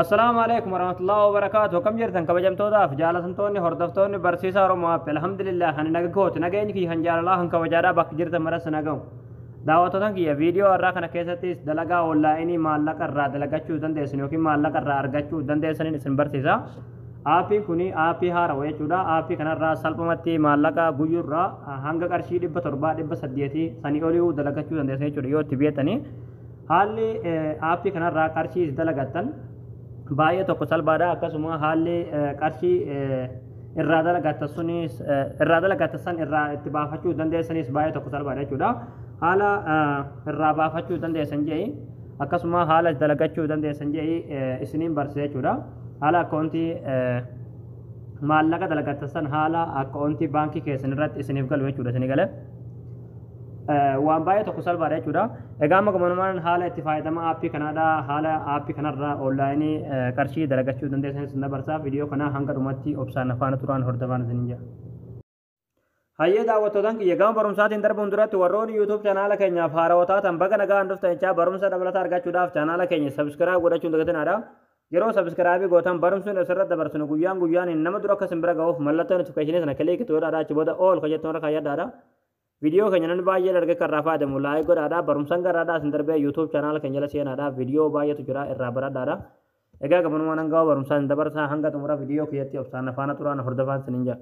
Assalaamu alaikum warahmatullahi wabarakaatu akkam jirtan kabajamtootaaf jaalatamtoonni hordoftoonni barsiisaa Oromoo App alhamdulillah kan naga kooti nageenyi kiyya kan jaalalaa kan kabajaadhaa bakka jirtan maras nagahu daawwattootan kiyya viidiyoo har'aa kana keessattis dalagaa onlaayinii maallaqa irraa dalagachuu dandeessan yookiin maallaqa irraa argachuu dandeessaniin isin barsiisa aappiin kun aappii haarawa jechuudha aappii kanarraa salphumatti maallaqa guyyurraa hanga qarshii dhibba torbaa dhibba saddeetii sanii olii dalagachuu dandeessan jechuudha yoo itti beektanii Haalli aappii kanarraa qarshii itti dalagattan baay'ee tokko salphaadha akkasuma haalli qarshii irraa dalagattan sunis irraa dalagattan san irraa itti baafachuu dandeessanis baay'ee tokko salphaadha jechuudha. Haala irraa baafachuu dandeessan je'i akkasuma haala dalagachuu dandeessan je'i isiniin barsiisa jechuudha. Haala akkaawuntii maallaqa dalagattan san haala akkaawuntii baankii keessan irratti isiniif galu jechuudha isinii galee. waan baay'ee tokko salphaadha jechuudha. Egaa amma gamanumaan haala itti fayyadama aappii kanaadha. Haala aappii kanarra onlaayinii qarshii dalagachuu dandeessanis na barsaa. Viidiyoo kana hanga dhumatti obsaan afaana turaan hordofaan isin jira. Hayyee daawwattootaan kiyya gama barumsaatiin darbuun duratti warroonni YouTube chaanaala keenyaaf haarawaa taatan baga nagaan dhuftan jechaa barumsa dabalataa argachuudhaaf chaanaala keenya sabiskiraayib godhachuun dagatinaadha. Yeroo subscribe gootan barumsni asirra dabarsinu guyyaan guyyaaniin nama dura akka isin bira ga'uuf mallattoo notification sana click to godhaadha achi booda all kan jettu irra kaayyadhaadha. Viidiyoo keenya namni baay'een arge kan irraa fayyadamu like godhaadha barumsan garraadhaa isin darbee YouTube channel keenya jala seenaadha viidiyoo baay'eetu jira irraa baradhaadha. Egaa gabanumaan hanga barumsaa isin dabarsaa hanga xumura viidiyoo kiyyatti obsaan na faana turaa na hordofaan isiniin jedha.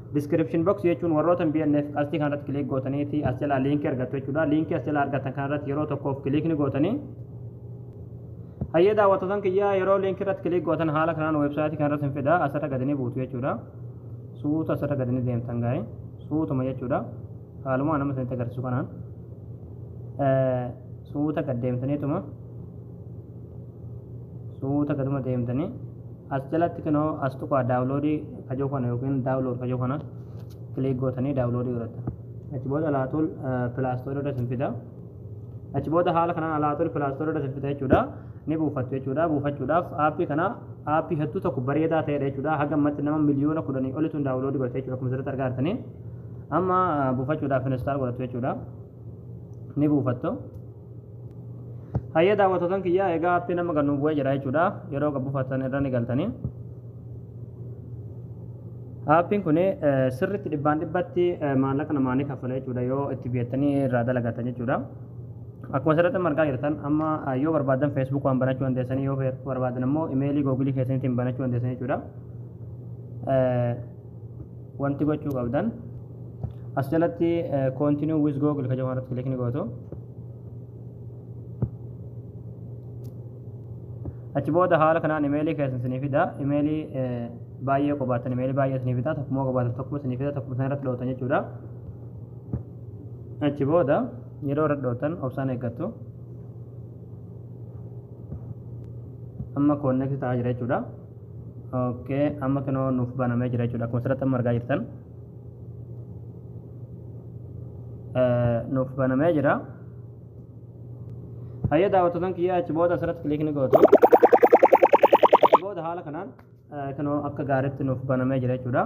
Description box jechuun warroota BNF qastii kanarratti kiliik gootaniiti as jalaa liinkii argattu jechuudha. Liinkii as jalaa argattan kanarratti yeroo tokkoof kiliik ni gootanii. Hayyee daawwattootan kiyyaa yeroo liinkii irratti kiliik gootan haala kanaan weebsaayitii kanarratti hin fida asirra gadi ni buutu jechuudha. Suuta asirra gadi ni deemtan gaa'e suutuma jechuudha. Haaluma nama isinitti agarsiisu kanaan. suuta gad deemtaniituma suuta gaduma deemtanii as jalatti kinoo as tuqaa daawuloodii kajoo kana yookiin daawulood kajoo kana kiliik gootanii daawuloodii godhatta achi booda alaatul pilaastoor irra isin fida achi booda haala kanaan alaatul pilaastoor irra isin fida jechuudha ni buufattu jechuudha buufachuudhaaf aappii kana aappii hedduu tokko bareedaa ta'edha jechuudha haga ammatti nama miliyoona kudhanii olituun daawuloodii godhate jechuudha akkuma asirratti argaa jirtanii amma buufachuudhaaf instaal godhattu jechuudha ni buufattu hayyee daawwattotan kiyyaa egaa appii nama kan nuuf bu'ee jira jechuudha yeroo kan buufatan irra ni galtanii Aappiin kun sirriitti dhibbaan dhibbatti maallaqa namaa ni kaffala jechuudha yoo itti biyyatanii irraa dalagatan jechuudha. Akkuma asirratti argaa jirtan amma yoo barbaadan Facebook waan banachuu dandeessanii yoo barbaadan immoo imeelii googilii keessaniitiin banachuu dandeessanii jechuudha. wanti gochuu qabdan as jalatti continue with google ka jedhu irratti click ni gootu achi booda haala kanaan imeelii keessan isinii fida imeelii baay'ee qabaatan imeelii baay'ee isinii fida tokkummoo qabaatan tokkummoo isinii fida tokkummoo isin irratti dhootan jechuudha achi booda yeroo irratti dhootan obsaan eeggattu amma koonneekti ta'aa jira jechuudha ok amma kinoo nuuf banamee jira jechuudha akkuma asirratti amma argaa jirtan nuuf banamee jira hayyee daawwattotan kiyya achi booda asirratti kiliik ni gootu achi booda haala kanaan kinoo akka gaariitti nuuf banamee jira jechuudha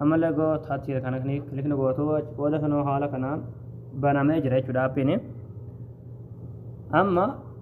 ammallee goo taatiira kana kiliik ni gootu achi booda kinoo haala kanaan banamee jira jechuudha appiin amma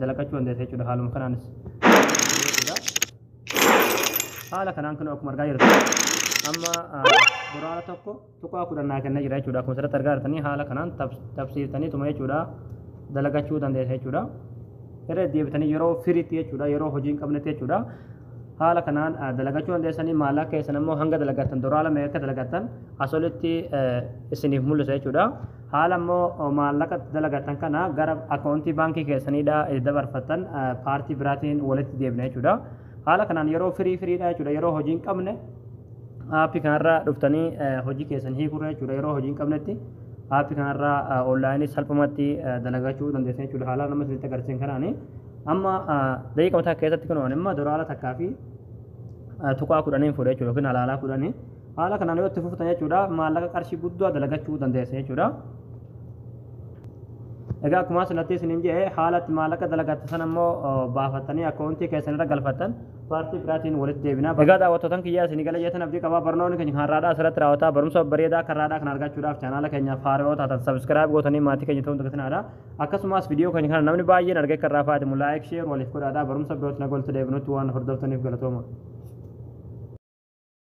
dalaqachuu dandeessa jechuudha haaluma kanaanis. Haala kanaan kun akkuma argaa jirtu amma duraara tokko tuqaa kudhan naa kennee jira jechuudha akkuma asirratti argaa jirtanii haala kanaan tabsiiftanii tuma jechuudha dalagachuu dandeessa jechuudha. Irra deebitanii yeroo firiitti jechuudha yeroo hojii hin qabnetti jechuudha haala kanaan dalagachuu dandeessanii maallaqa keessan immoo hanga dalagattan duraala meeqa dalagattan asolitti isiniif mul'isa jechuudha. Haala immoo maallaqa itti dalagattan kana gara akkaawuntii baankii keessaniidha itti dabarfattan paartii biraatiin walitti deebina jechuudha. Haala kanaan yeroo firii firiidha jechuudha yeroo hojii hin qabne aappii kanarra dhuftanii hojii keessan hiikurra jechuudha yeroo hojii hin qabnetti aappii kanarra onlaayinii salphumatti dalagachuu dandeessu jechuudha haala nama isinitti agarsiisan kanaani. Amma daqiiqaa takka keessatti kun amma doolaara takkaa fi tuqaa kudhaniin fuudha jechuudha yookiin halaalaa kudhanii. Haala kanaan yoo itti fuftan jechuudha maallaqa qarshii guddaa dalagachuu dandeessa jechuudha. Egaa akkuma asirratti isiniin jedhe haala itti maallaqa dalagattu sana immoo baafattanii akkaawuntii keessan irra galfattan paartii biraatiin walitti deebina. Egaa daawwattootan kiyyaa isinii gala jeetan abdii qabaa barnoonni keenya kan har'aadhaa asirratti raawwataa barumsa bareedaa kan har'aadhaa kan argachuudhaaf chaanaala keenyaaf haaroo taatan sabiskiraayib gootanii maatii keenya ta'uun dagatinaa akkasumas viidiyoo keenya kana namni baay'een argee kan irraa fayyadamu laayik sheer waliif godhaadhaa barumsa birootti nagaan walitti deebinutti waan hordoftaniif galatooma.